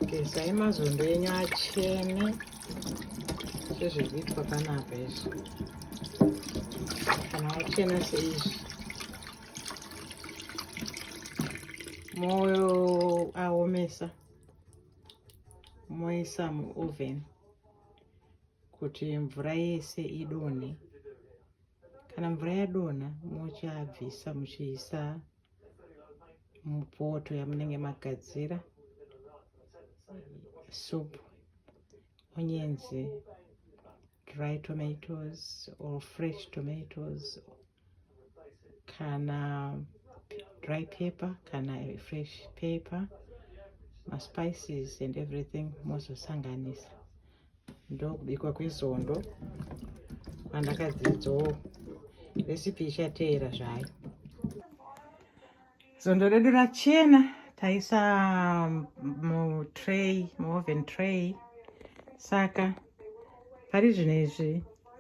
gezai mazondo enyu achene sezviri kuitwa panapa izvi kana achena seizvi moyo aomesa moisa muoven kuti mvura yese idonhe kana mvura yadonha muchabvisa muchiisa mupoto yamunenge magadzira soup onyenzi dry tomatoes or fresh tomatoes kana dry paper kana fresh paper maspices and everything mozosanganisa ndokubikwa kwesondo kwandakadzidzawo recipe ichateera zvayo sondo redu rachena taisa mutray muoven tray saka pari zvino izvi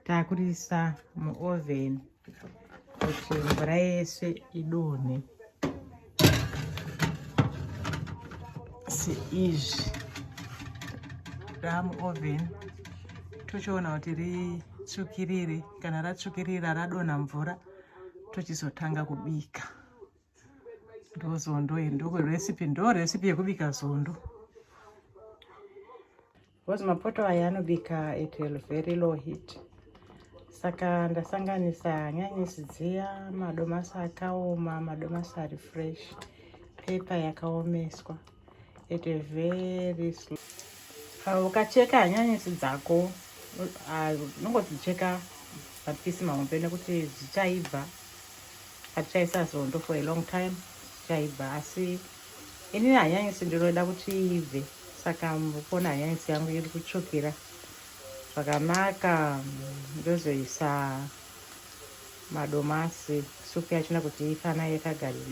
takurisa muoven kuti mvura yese idonhe seizvi damu oven tochiona kuti ritsvukirire kana ratsvukirira radonha mvura tochizotanga kubika ndozondo iri ndokuresipi ndo resipi yekubika zondo because mapoto aya anobika at a very low heat saka ndasanganisa hanyanisi dziya madomasi akaoma madomasi ari fresh pepa yakaomeswa at a very slow ah, ukacheka hanyanisi dzako ah, unongodzicheka mapisi mahombe nekuti dzichaibva hatichaisa zondo for a long time dzichaibva asi ini hanyanisi ndinoda kuti ibve saka mukona hanyanisi yangu iri kutsvukira zvakanaka ndozoisa madomasi supu yachina kuti ifana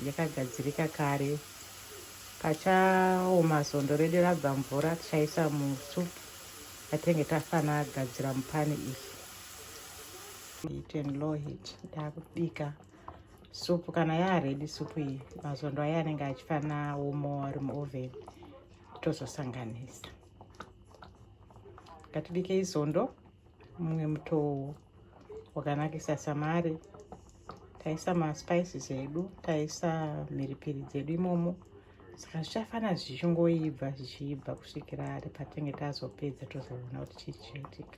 yakagadzirika kare pachaoma zondo redu rabva mvura tichaisa musupu yatenge tafana gadzira mupani iyi heat and low heat ndakubika supu kana yaaredi supu iyi mazondo aya anenge achifana womo ari muoven tozosanganisa ngatibike izondo mumwe mutowo wakanakisa samari taisa maspices edu taisa mhiripiri dzedu imomo saka zvichafana zvichingoibva zvichiibva kusvikira ari patenge tazopedza tozoona kuti chii chinoitika